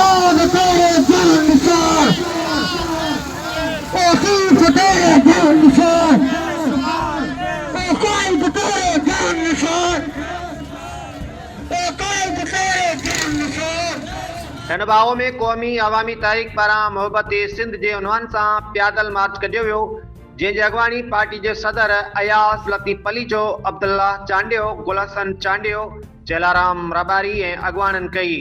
آن تيري جان نثار او صوف تيري جان نثار او قائد تيري جان نثار او قائد تيري جان نثار هن ڀاء ۾ قومي عوامي تحريڪ پاران محبت سنڌ جي عنوان سان پيادل مارچ ڪڍيو ويو جنهن جي اڳواڻي پارٽي جي صدر اياز لطيف پليجو، عبدالله چانڊيو، گل حسن چانڊيو، چيلارام رباري ۽ اڳواڻن ڪئي.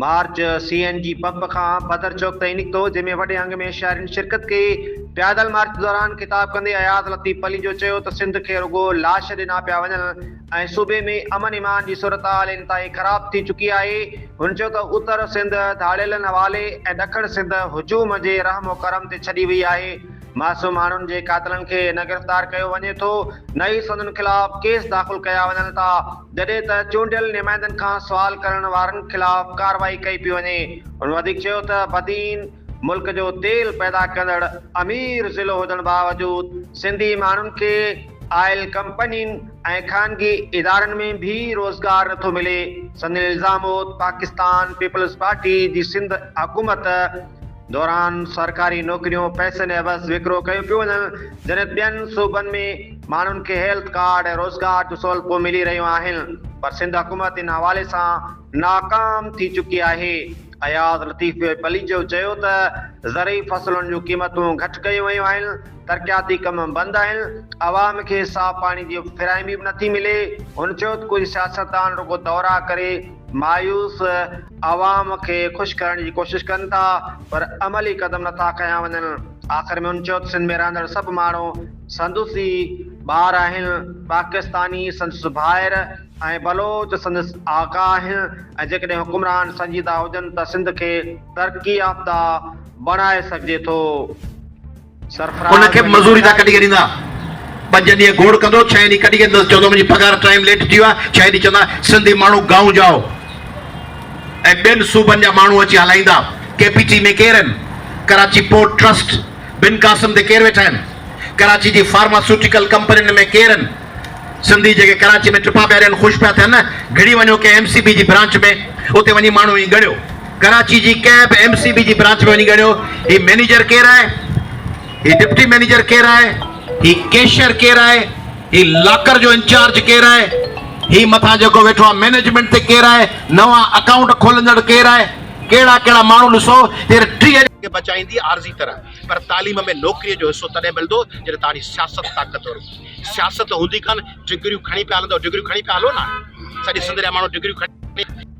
March C N G pump کان بدر چوڪ تائين نڪتو، جنهن ۾ وڏي انگ ۾ شهرين شرڪت ڪئي. پيادل مارچ دوران خطاب ڪندي اياز لطيف پليجو چيو ته سنڌ کي رڳو لاش ڏنا پيا وڃن ۽ صوبي ۾ امن ايمان جي صورتحال انتهائي خراب ٿي چڪي آهي. هن چيو ته اتر سنڌ ڌاڙيلن حوالي ۽ ڏکڻ سنڌ هجوم جي رحم و ڪرم تي ڇڏي وئي آهي، معصوم ماڻهن جي قاتلن کي نه گرفتار ڪيو وڃي ٿو نه ئي سندن خلاف ڪيس داخل ڪيا وڃن ٿا. جڏهن ته چونڊيل نمائندن کان سوال ڪرڻ وارن خلاف ڪارروائي ڪئي پئي وڃي. هن وڌيڪ چيو ته بدين ملڪ جو تيل پيدا ڪندڙ امير ضلعو هجڻ باوجود سنڌي ماڻهن کي آئل ڪمپنين ۽ خانگي ادارن ۾ به روزگار نٿو ملي. سندن الزام هو ته پاڪستان پيپلز پارٽي جي سنڌ حڪومت، دوران سرڪاري نوڪريون پئسن عيوض وڪرو ڪيون پيون وڃن، جڏهن ٻين صوبن ۾ ماڻهن کي هيلٿ ڪارڊ ۽ روزگار جون سهولتون ملي رهيون آهن پر سنڌ حڪومت ان حوالي سان ناڪام ٿي چڪي آهي، اياز لطيف پليجو چيو ته زرعي فصلن جون قيمتون گهٽ ڪيون ويون آهن، ترقياتي ڪم بند آهن، عوام کي صاف پاڻي جي فراهمي به نٿي ملي، هن چيو ته ڪجهه سياستدان رڳو دورا ڪري. مايوس عوام کي خوش ڪرڻ جي ڪوشش ڪن ٿا پر عملي قدم نٿا کنيا وڃن، آخر ۾ ھن چيو ته سنڌ ۾ رھندڙ سڀ ماڻھو سندس ئي ٻار آھن، پاڪستاني سندس ڀائر ۽ بلوچ سندس آقا آھن ۽ جيڪڏھن حڪمران سنجيده ھجن ته سنڌ کي ترقي يافته بڻائي سگھجي ٿو. ان کي به مزوري ٿا ڪڍي ڳڻيندا. پنج ڏينهن گوڙ ڪندو، ڇهين ڏينهن ڪڍي ڳڻيندس، چوندو منهنجي پگهار ٽائيم ليٽ ٿي ويو آهي، ڇهين ڏينهن چوندا سنڌي ماڻهو گائون جاء ۽ ٻين صوبن جا ماڻهو اچي هلائيندا، ڪي پي ٽي ۾ ڪير آهن، ڪراچي پورٽ ٽرسٽ، بن قاسم تي ڪير ويٺا آهن، ڪراچي جي فارماسوٽيڪل ڪمپنين ۾ ڪير آهن، سنڌي جيڪي ڪراچي ۾ ٽپا پيا ڏين خوش پيا ٿين نه، گهڙي وڃو ڪنهن ايم سي بي جي برانچ ۾ اتي وڃي ماڻهو ائين ڳڻيو. ڪراچي جي ڪنهن به ايم سي بي جي برانچ ۾ وڃي ڳڻيو هي مئنيجر ڪير آهي هي ڊپٽي مئنيجر ڪير آهي هي ڪيشر ڪير آهي هي لاڪر جو انچارج ڪير آهي هي مٿان جيڪو ويٺو آهي مئنيجمنٽ تي ڪير آهي نوان اڪائونٽ کولندڙ ڪير آهي ڪهڙا ڪهڙا ماڻهو ڏسو هير ٽيهه کي بچائيندي عارضي طرح پر تعليم ۾ نوڪري جو حصو تڏهن ملندو جڏهن توهانجي سياست طاقتور هوندي سياست هوندي ڪانه ڊگريون کڻي پيا هلندو ڊگريون کڻي پيا هلو نا سڄي سنڌ جا ماڻهو ڊگريون کڻي